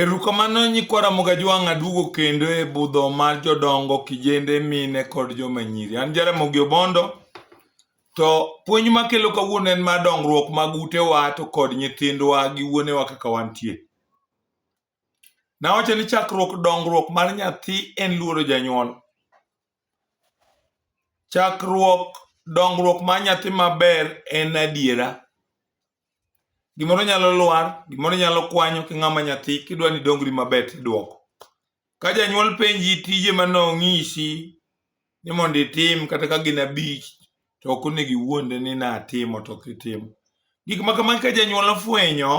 Erukamano nyikwa Ramogi Ajwang' aduogo kendo e budho mar jodongo, kijende, mine kod joma nyiri. An Jaramogi Obondo to puonj makelo kawuono en mar dongruok mag utewa to kod nyithindwa gi wuonewa kaka wantie. Nawacho ni chakruok dongruok mar nyathi en luoro janyuol. Chakruok dongruok mar nyathi maber en adiera. Gimoro nyalo lwar, gimoro nyalo kwanyo ki ng'ama nyathi kidwa ni dongri maber tidwoko. Ka janyuol penji tije ma nong'isi ni mondo itim kata ka gin abich to ok onego iwuonde ni natimo to ok itimo. Gik ma kamagi ka janyuol ofwenyo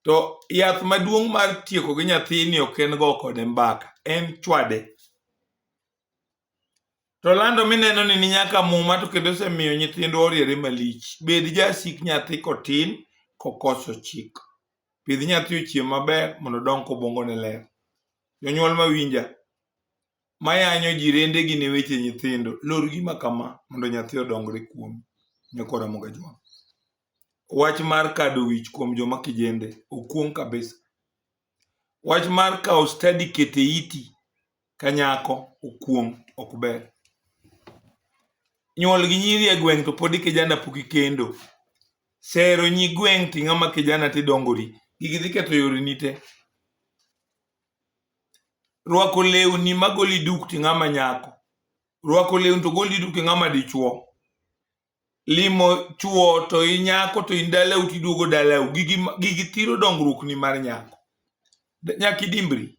to yath maduong' mar tieko gi nyathini ok en go kode mbaka, en chwade. To lando mineno ni ni nyaka muma to kendo osemiyo nyithindwa oriere malich. Bed jasik nyathi kotin kokoso chik. Pidh nyathi ochiem maber mondo odong kobongo ne ler. Jonyuol mawinja, mayanyo ji rendegi ne weche nyithindo, lor gima kama mondo nyathi odongre kuom nyakora moga jwang'. Wach mar kado wich kuom joma kijende, okuong' kabisa. Wach mar kawo stadi kete iti ka nyako okuong' ok ber. Nyuol gi nyiri e gweng' to pod ikijana pok ikendo. Sero nyi gweng' to ing'ama kijana to idongori. Gigi dhi ketho yoreni te. Rwako lewni magoli duk to ing'ama nyako. Rwako lewni to goli duk to ing'ama dichuo. limo chuo to inyako to in dalau to iduogo dalau gigi gigi thiro dongruok ni mar nyako nyaka idimbri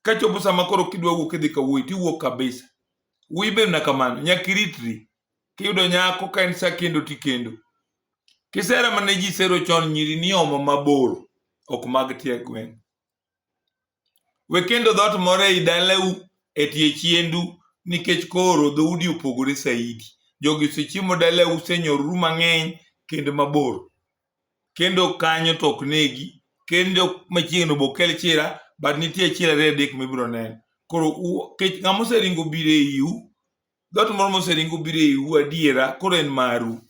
ka chopo sama koro kidwa wuok idhi ka wuoyi tiwuok kabisa wuoyi ber na kamano nyaka iritri kiyudo nyako ka en sa kendo tikendo kisera mane ji sero chon nyiri niomo mabor ok mag tie gweng' We kendo dhoot moro ei dalau e tie chiendu nikech koro dhoudi opogore saidi. Jogi osechiemo dalau, usenyoruru mang'eny kendo mabor. Kendo kanyo to ok negi, kendo machiegni obo kel chira, but nitie chira ariyo adek mibiro neno. Koro u- kech ng'ama oseringo biro eiu, Dhoot moro moseringo biro eiu adiera, koro en maru.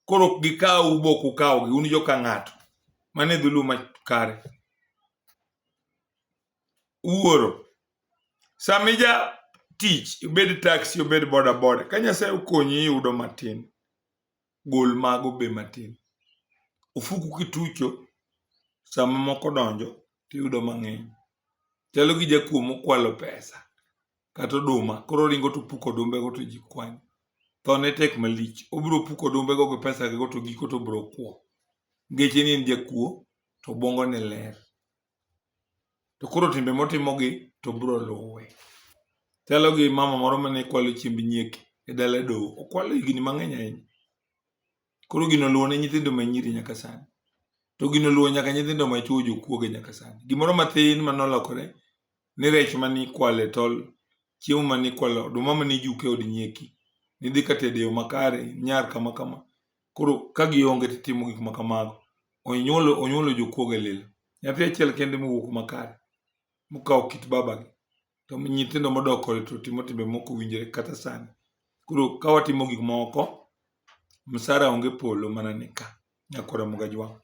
Koro ok gikawu bok ukawgi, un jo ka ng'ato. Mano e dhulu ma kare. Wuoro, sama ija tich, obed taxi, obed boda boda, ka Nyasaye okonyi iyudo matin, gol mago be matin. Ofuku kitucho sama moko donjo tiyudo mang'eny. Chalo gi jakuo mokwalo pesa kata oduma koro oringo to opuko odumbego to ji kwanyo. Thone tek malich. Obiro puko odumbego gi pesagego to giko to obiro kwo. Nikech en en jakuo to obwongone ler. to koro timbe motimogi to biro luwe. Chalo gi mama moro mane kwalo chiemb nyieke e dala doho, okwalo higni mang'eny ahinya. Koro gino oluwo ne nyithindo ma nyiri nyaka sani. To gino oluwo nyaka nyithindo ma chwo jokuoge nyaka sani. Gimoro matin mane olokore ni rech mane ikwalo e tol, chiemo mane ikwalo, oduma mane ijuko e od nyieki, nidhi ka tedo e yo makare, nyar kama kama. Koro ka gionge to itimo gik ma kamago. Onyuolo onyuolo jokuoge lilo. Nyathi achiel kende mowuok makare mokawo kit babagi to nyithindo modok kode to timo timbe moko winjore kata sani. Koro ka watimo gik moko, msara onge polo mana ni ka nyaka oromo ga jwang'.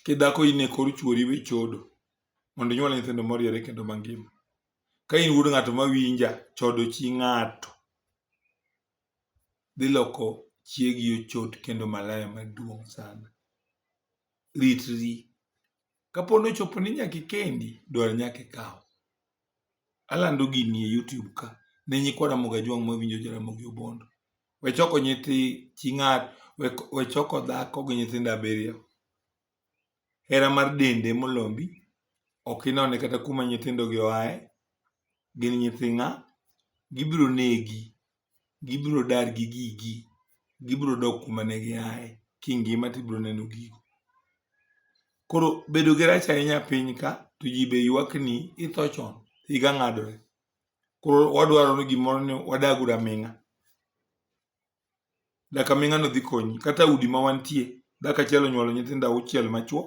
Kidhako in e kor chuori we chodo mondo inyuol nyithindo moriere kendo mangima. Ka in wuod ng'ato mawinja, chodo chi ng'ato. dhi loko chiegi ochot kendo malaya maduong' sana. Ritri. Kapo ni ochopo ni nyaka ikendi, dwar nyaka ikaw. Alando gini e YouTube ka ne nyikwa Ramogi Ajwang' mawinjo Jaramogi Obondo. We choko nyithi chi ng'ato, we choko dhako gi nyithindo abiriyo. hera mar dende molombi, ok inone kata kuma nyithindogi oaye, gin nyithi ng'a, gibiro negi, gibiro dar gi gigi, gibiro dok kuma ne giaye, kingima to ibiro neno gigo. Koro bedo gi rach ahinya e piny ka to ji be ywak ni itho chon, higa ng'adore. Koro wadwaro ni gimoro ni wadag uru aming'a. daka mi ng'ano dhi konyi kata udi ma wantie daka achiel onyuolo nyithindo auchiel machuo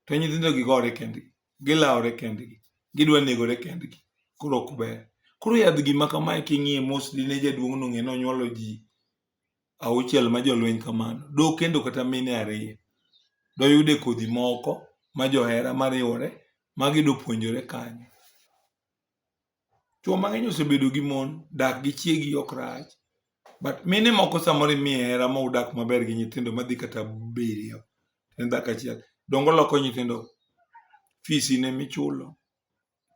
to nyithindo gi gore kendgi gilawore kendgi gidwa negore kendgi koro ok ber koro yadh gima kamae king'iye mos dine jaduong' no ng'e nonyuolo ji auchiel ma jolweny kamano do kendo kata mine ariyo doyude kodhi moko ma johera mariwore ma gidopuonjore kanyo Chwo mang'eny osebedo gi mon, dak gi chiegi ok rach. But mine moko samoro imiye hera ma udak maber gi nyithindo madhi kata abiriyo en dhako achiel. Dongo loko nyithindo, fees in ema ichulo,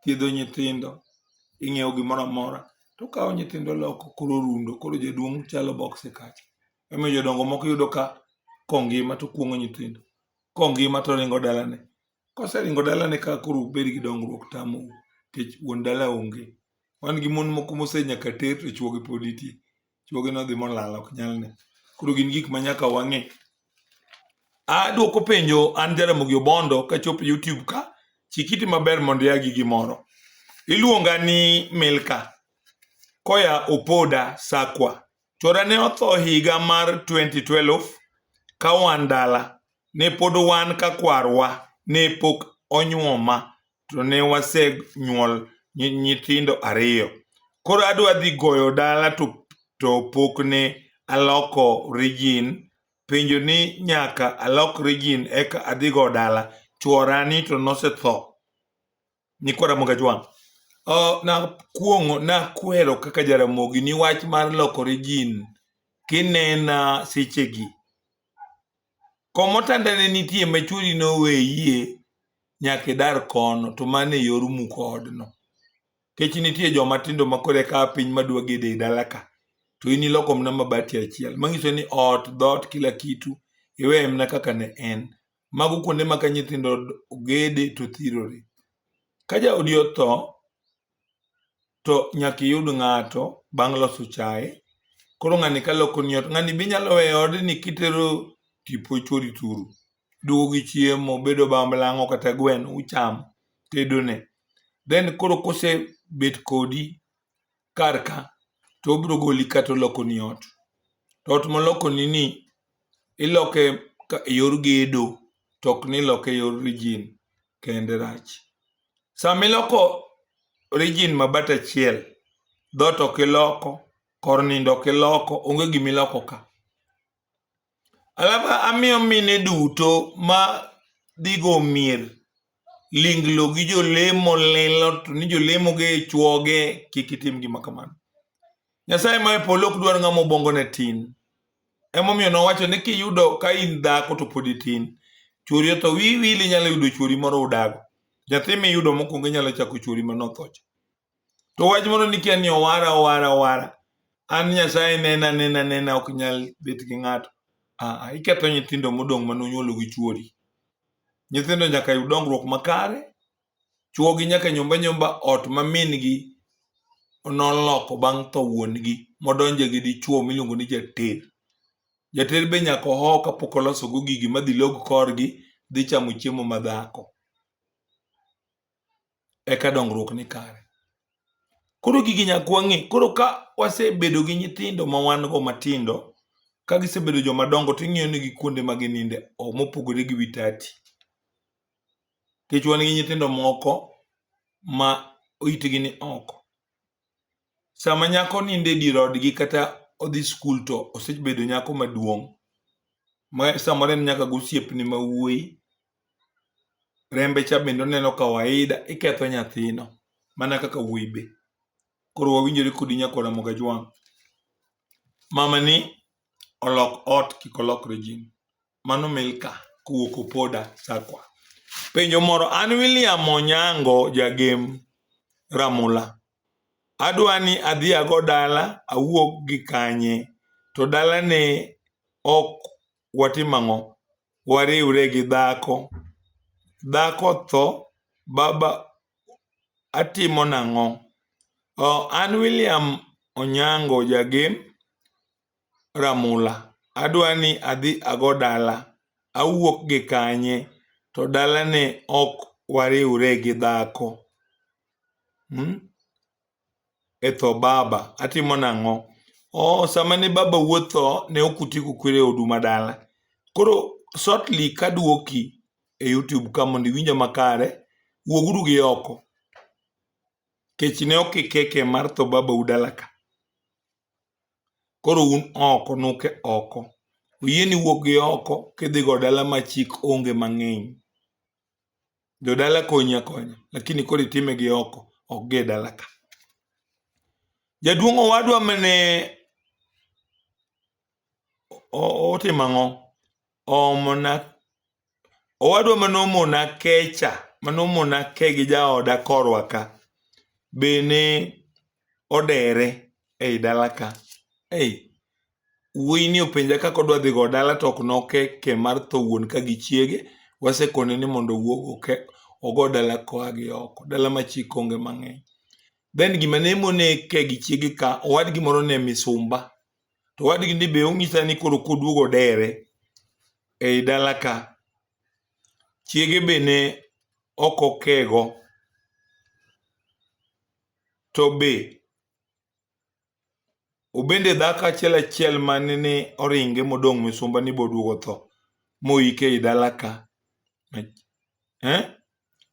thiedho nyithindo, ing'iewo gimoro amora. To okawo nyithindo oloko koro orundo, koro jaduong' chalo box e kacha. Emomiyo jodongo moko iyudo ka kongima to kuong'o nyithindo, kongima to oringo dalane. Koseringo dalane ka koro ubed gi dongruok tamou nikech wuon dala onge. Wan gi mon moko mose nyaka ter to chwogi pod nitie. Chwogi nodhi molal ok nyal ne. Koro gin gik ma nyaka wang'e. Adwoko penjo an Jaramogi Obondo kachopo YouTube ka, chik iti maber mondo ia gi gimoro. Iluonga ni Milka koya Opoda Sakwa. Chwora ne otho higa mar 2012 ka wan dala, ne pod wan ka kwarwa ne pok onyuoma to ne wasenyuol nyithindo ariyo. Koro adwa dhi goyo dala to, to pok ne aloko rijin. Penjo ni nyaka alok rijin eka adhigo dala. Chwora ni to nosetho. Nyikwa Ramogi Ajwang'. Oh, nakuong'o nakuhero kaka Jaramogi ni wach mar lokore jin kinena sechegi. Komotanda ne nitie ma chwori noweyie nyaka idar kono to mano e yor muko odno. Kech nitie joma tindo ma koro eka piny madwa gedo e dala ka to in iloko mana mabati achiel mang'iso ni ot, dhoot, kila kitu iweye mana kaka ne en. Mago kuonde ma ka nyithindo ogede to thirore. Ka jaodi otho, to nyaka iyud ng'ato bang' loso chae. Koro ng'ani ka lokoni ot, ng'ani be inyalo weyo e odni kitero tipo chwori turu. Iduogo gi chiemo, obed obamblang'o kata gweno uchamo, tedone. Then koro kosebet kodi, kar ka to obiro goli kata olokoni ot to ot molokoni ni iloke ka e yor gedo to ok ni iloke e yor rijin kende rach sama iloko rijin ma bat achiel dhoot ok iloko kor nindo ok iloko onge gima iloko ka Alafu amiyo mine duto ma dhigo mier linglo gi jolemo lilo to ni jolemo ge chwoge kik itim gima kamano nyasaye ma e polo ok dwar ng'ama obongo ne tin emomiyo nowacho ni kiyudo ka in dhako to pod itin chwori otho wiwili nyalo yudo chwori moro udago nyathi miyudo mokwongo inyalo chako chwori manothocha To wach moro ni kia ni owara owara owara. An Nyasaye nena nena nena ok nyal bet gi ng'ato. Ah, ah iketho nyithindo modong' ma nonyuolo gi chuori. Nyithindo nyaka yud dongruok makare. Chuogi nyaka nyomba nyomba ot ma min gi noloko bang' tho wuon gi modonje gi dichuo miluongo ni jater. Jater be nyaka oho kapok oloso go gigi madhi log korgi dhi chamo chiemo madhako. eka dongruok ni kare. Koro gigi nyaka wang'e. Koro ka wasebedo gi nyithindo ma wan go matindo, ka gisebedo joma dongo to ing'iyo negi kuonde ma gininde o- mopogore gi wi tati. Nikech wan gi nyithindo moko ma itgi ni oko. sama nyako nindo e dier odgi kata odhi skul to osebedo nyako maduong' ma samoro en nyaka gosiepne ma wuoyi rembe cha bende oneno kawaida iketho nyathino mana kaka wuoyi be koro wawinjore kodi nyako ramoga jwang' mamani olok ot kik olok regime Mano Milka kowuok Opoda Sakwa. Penjo moro, an William Onyango jagem Ramula. Adwa ni adhi ago dala awuog gi kanye to dala ne ok watim ang'o? Wariwre gi dhako. Dhako tho baba atimo nang'o? Oh, an William Onyango jagem ramula adwa ni adhi ago dala, awuok gi kanye to dalane ok wariwre gi dhako e tho baba atimo nang'o? Ooh sama ne baba wuod tho ne ok utieko kwere odu ma dala koro shortly kaduoki e youtube ka mondo iwinja makare wuog uru gi oko nikech ne ok ikeke mar tho babau dalaka. Koro un oko nuke oko. Oyieni wuok gi oko kidhigo dala ma chik onge mang'eny. Jodala konyi akonya, lakini koro itime gi oko, ok gi e dala ka. Jaduong' owadwa mane otimo ang'o? oomona owadwa mane omona kecha mane omona ke gi jaoda korwa ka be ne odere ei dala ka ei wuoyi ni openja kaka odwa dhi go dala to ok noke ke mar tho wuon ka gi chiege wasekone ni mondo owuog oke ogo dala koa gi oko dala ma chik onge mang'eny then gima ne mone ke gi chiege ka owadgi moro ne misumba to wadgi ni be onyisa ni koro koduogo dere ei dala ka chiege be ne ok okego to be obende dhako achiel achiel mane ni oringe modong' misumba ni boduogo tho moike ei dala ka eh?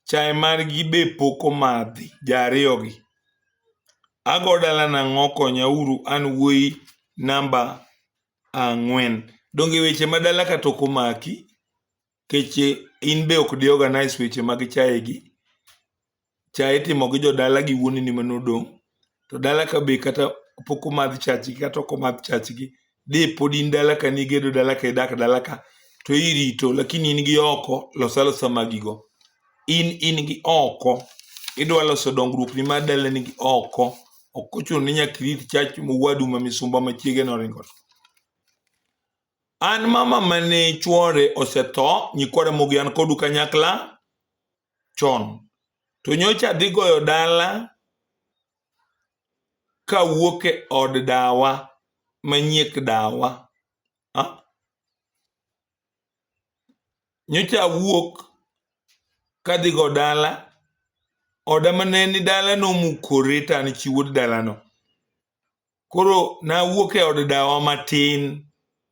Chae margi be pok omadhi ja ariyogi. Ago dala nang'o konya uru an wuoyi namba ang'wen. Donge weche ma dala ka to ok omaki nikech in be ok di organise weche mag chae gi. Chae itimo gi jodala gi wuoneni mane odong'. to dala ka be kata pok omadh chachgi kata ok omadh chachgi de pod in dala ka nigedo dala ka idak dala ka to irito lakini in gi oko los alosa magigo in in gi oko idwa loso dongruok ni mar dalani gi oko ok ochuno ni nyaka irit chach mowadu ma misumba machiege noringo an mama mane chwore osetho nyikwara mogi an kodu kanyakla chon to nyocha adhi goyo dala kawuok e od dawa manyiek dawa ah? nyocha awuok kadhi go dala oda mane ni dala nomukore to an chi wuod dalano koro nawuok e od dawa matin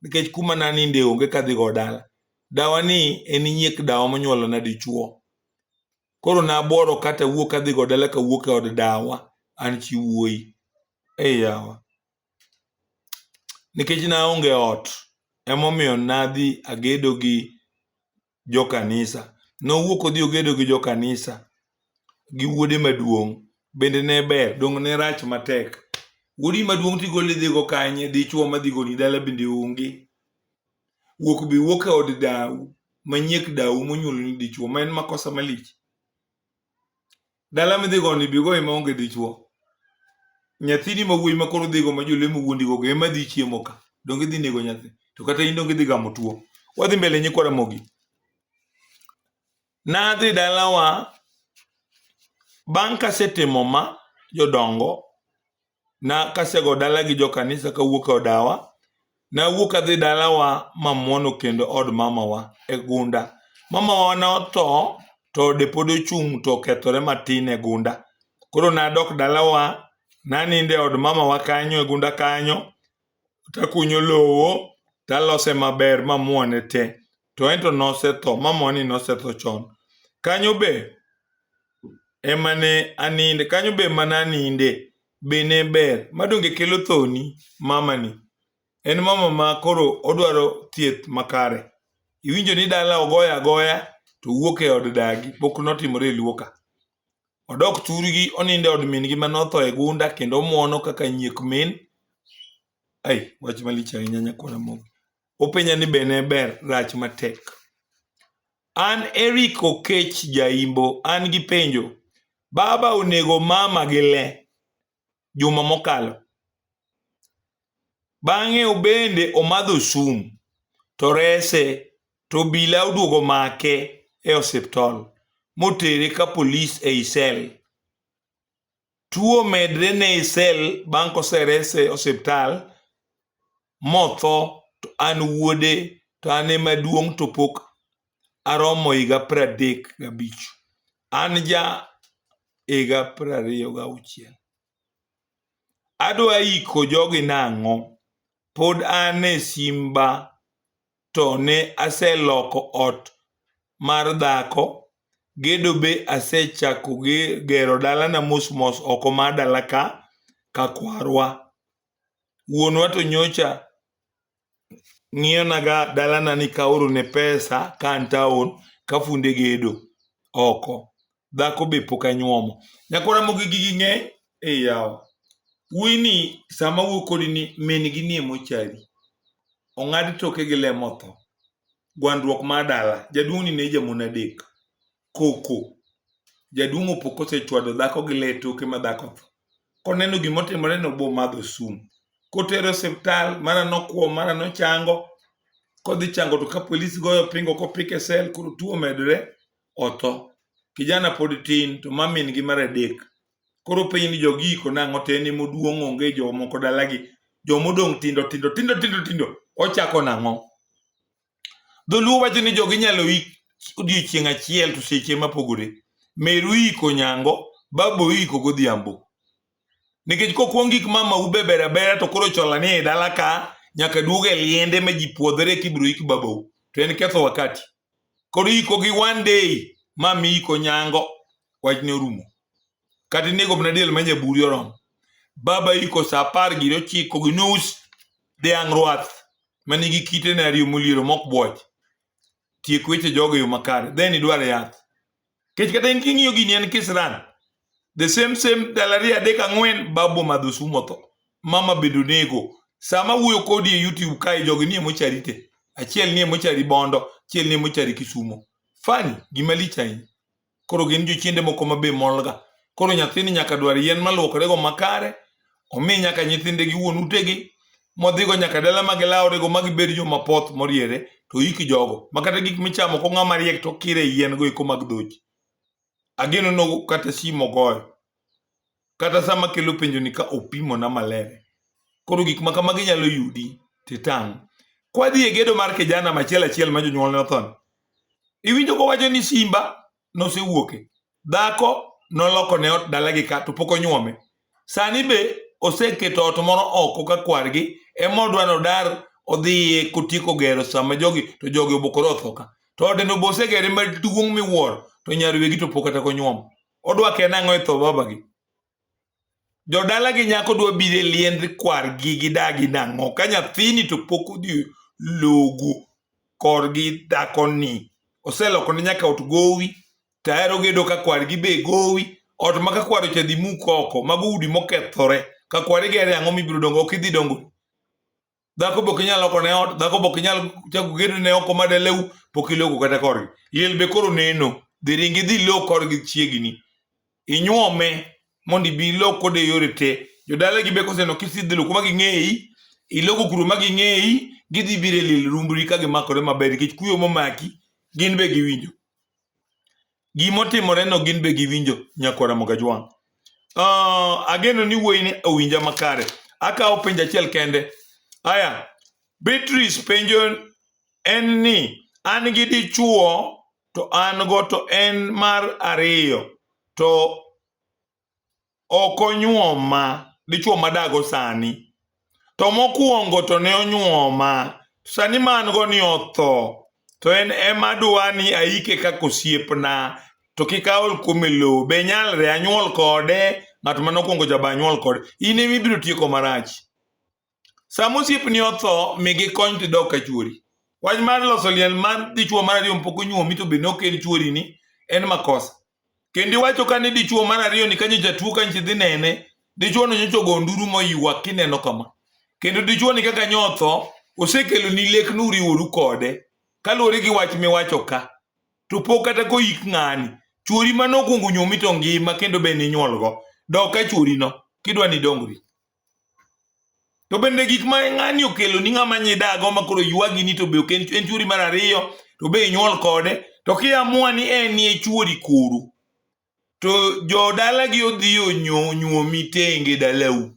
nikech kuma naninde onge kadhigo dala dawa ni en nyiek dawa monyuolona dichuo koro nabuoro kata wuok kadhigo dala kawuok e od dawa an chi wuoyi ei yawa nikech naonge ot emomiyo nadhi agedo gi jokanisa. Nowuok odhi ogedo gi jokanisa gi wuode maduong'. Bende ne ber, donge ne rach matek? Wuodi maduong' tigolo idhigo kanye? Dichwo madhi goli dala bende onge. Wuok be wuok e od dawu manyiek dawu monyuoloni dichwo ma en makosa malich. Dala midhigo ni bigo ema onge dichwo. Nyathini ma wuoyi ma koro dhigo ma jolemo wuondigo go ema dhi chiemo ka. Donge dhi nego nyathi. To kata in donge dhi gamo tuo. Wadhi mbele nyikwa Ramogi. Nadhi dalawa bang' kasetimo ma jodongo na kasego dala gi jokanisa kawuok e odawa nawuok adhi dalawa mamwono kendo od mamawa e gunda mamawa ne otho to ode pod ochung' to okethore matin e gunda koro nadok dalawa nanindo e od mamawa kanyo e gunda kanyo takunyo lowo talose maber mamuone te to ento nosetho mamoni nosetho chon kanyo be emane aninde kanyo be emane aninde be ne ber madonge kelo thoni mamani en mama ma koro odwaro thieth makare iwinjo ni dala ogoya agoya to wuok e od dagi pok notimore e luoka Odok thurgi onindo e od min-gi ma notho e gunda kendo omwono kaka nyiek min. Ai, wach malich ahinya nyakwana moko. Openja ni be ne ber rach matek. An Eric Okech Jaimbo, an gi penjo. Baba onego mama gi le. juma mokalo. Bang'e obende omadho sum to rese to obila oduogo make e osiptal motere ka polis e isel. Tuo medre ne isel bang' koserese osiptal motho to an wuode to an ema duong' to pok aromo higa pradek gabich an ja higa prariyo gauchiel adwa iko jogi nang'o pod an e simba to ne aseloko ot mar dhako gedo be asechako gero dalana mosmos oko mar dala ka kakwarwa wuonwa to nyocha ng'iyonaga dalana ni kaorone pesa ka an taon kafunde gedo oko dhako be pok anyuomo nyako ramogi gigi ng'eny e yawa wuoyi ni sama wuo kodi ni min gi nie mochari ong'ad toke gi lemo tho gwandruok mar dala jaduong' ni ne jamon adek koko jaduong' opo kosechwado dhako gi le toke ma dhako tho koneno gima otimore no bo madho sum kotere osiptal mara nokwo mara nochango kodhi chango to ka polis goyo pingo kopike sel koro tuo medre otho kijana pod tin to mamin gi mar adek koro piny ni jogi iko nang'o to en ema oduong' onge jomoko dalagi jomodong' tindo tindo tindo tindo tindo ochako nang'o Dholuo wacho ni jogi inyalo ik odiechieng' achiel to seche mapogore. Meru iko nyango, babo iko godhiambo. Nikech kokwong gik mama ubebera bera to koro chola ni e dala ka nyaka duog e liende ma ji puodhore kibro ik babou. To en ketho wakati. Koro iko gi one day mami iko nyango wachne orumo. kata inego mana diel ma nyaburi oromo baba iko sa apar giri ochiko gi nus dhiang' rwath ma nigi kite ne ariyo moliero mok bwoch tiek weche jogo e yo makare then idwar yath kech kata in king'iyo gini en kisran the same same ndalo ariyo adek ang'wen babo madho sumu otho mama bende onego sama wuoyo kodi e youtube kae jogi nie mochari te achiel nie mochari bondo achiel nie mochari kisumo fani gima lich ahinya koro gin jochiende moko ma be molga koro nyathini nyaka dwar yien maluokorego makare omi nyaka nyithinde gi wuon utegi modhigo nyaka dala ma gilaworego ma gibed joma poth moriere to iki jogo ma kata gik michamo ko ng'ama riek to kire yiengo eko mag dhoji ageno no kata simo goyo kata sama kelo penjo ni ka opimo na maler koro gik ma kamagi nyalo yudi titang' kwadhi e gedo mar kijana machiel achiel ma jonyuol ne othon iwinjo kowacho ni simba nosewuoke dhako noloko ne ot dalagi ka to pok onyuome sani be oseketo ot moro oko ka kwargi ema odwa nodar odhiye kotieko gero sama jogi to jogi obokore othoka to odeno be osegere maduong' miwuoro to nyar wegi to pok kata konyuomo odwa kena ang'o e tho babagi jodala gi nyako dwa bire liend kwargi gi dagi nang'o ka nyathini to pok odhi logu korgi dhakoni oseloko ne nyaka ot gowi tahero gedo ka kwargi be gowi ot ma ka kwar ochadhi muk oko mago udi mokethore ka kwar igere ang'o mibiro dongo ok idhi dongo dhako bok inyal loko ne ot dhako bok inyal chako gedo ne oko madelewu pok iloko kata korgi liel be koro neno dhi ringi dhi lo korgi chiegni inyuome mondo ibi ilo kode yore te jodala gi be koseno kisidhi lo kuma ging'eyi iloko kuro ma ging'eyi gidhi biro e liel rumbri ka gimakore maber nikech kuyo momaki gin be giwinjo Gima otimoreno gin be giwinjo nyakwara Mogajwang'. Uh, ageno ni wuoyini owinja makare. Akawo penjo achiel kende. Aya, Beatrice penjo en ni an gi dichuo to an go to en mar ariyo to ok onyuoma dichuo madago sani to mokwongo to ne onyuoma sani ma an go ni otho to en ema dwa ni aike kaka osiepna to kik aol kuome lowo be nyalre anyuol kode ng'at mane okwongo jaba anyuol kode in ema ibiro tieko marach Sama osiepni otho, mi gikony to idog ka chuori. Wach mar loso liel mar dichuo mar ariyo pok onyuomi to be ne ok en chuori ni en makosa. Kendo iwacho ka ni dichuo mar ariyo ni kanyo jatuo ka nchi dhi nene, dichuo no nyocha ogo nduru moywa kineno kama. Kendo dichuo ni kaka nyotho osekelo ni lek nuriworu kode kaluwore gi wach miwacho ka. To pok kata koik ng'ani, chuori mane okuongo nyuomi to ngima kendo be ninyuolgo. Dog ka chuori no kidwa ni idongri. to bende gik ma ng'ani okelo ni ng'ama nyidago ma koro ywagi ni to be ok en chuori mar ariyo to be inyuol kode to kiamua ni en nie chuori kuru to jodalagi odhi onyuomi tenge dalau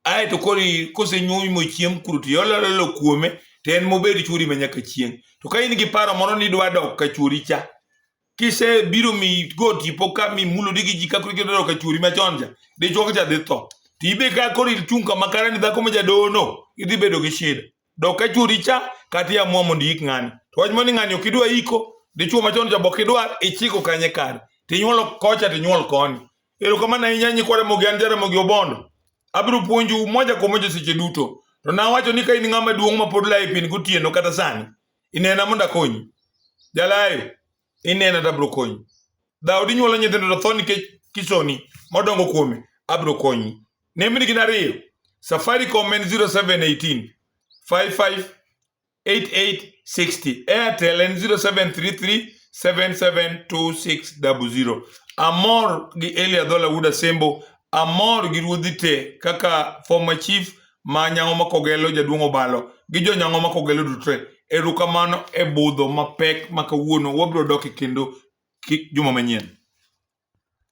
ae to koro kosenyuomi mochiem kuru to iolololo kuome to en mobed chuori ma nyaka chieng' to ka in gi paro moro ni idwa dok ka chuori cha kisebiro mi go tipo ka mi mulo digi ji ka kuri kidoro ka churi machon cha dichwo ka cha dhi tho to ibe ka koro ichung kama kare ni dhako ma jadono idhi bedo gi shida dok ka churi cha kata iamua mondo iik ng'ani to wach mani ng'ani ok idwa iko dichwo machon cha bok idwar ichiko kanye kare tinyuol kocha tinyuol koni erokamano ahinya nyikwara mogi an jaramogi obondo abiro puonju moja kwa moja seche duto to nawacho ni ka in ng'ama duong' ma pod laye pin gotieno kata sani Inena mondo akonyi. Jalayo, inena to abiro konyi. Daudi nyuolo nyithindo to tho nikech kisoni modongo kuome, abiro konyi. Nembni gin ariyo. Safaricom en 0718 55 8860. Airtel en 0733 772600. Amor gi Eli Adhola Wuda Sembo, amor gi ruodhi te kaka former chief ma nyango ma kogelo jaduong' obalo gi jo nyango ma kogelo dutre erukamano e budho mapek ma kawuono wabiro dok e kendo juma manyien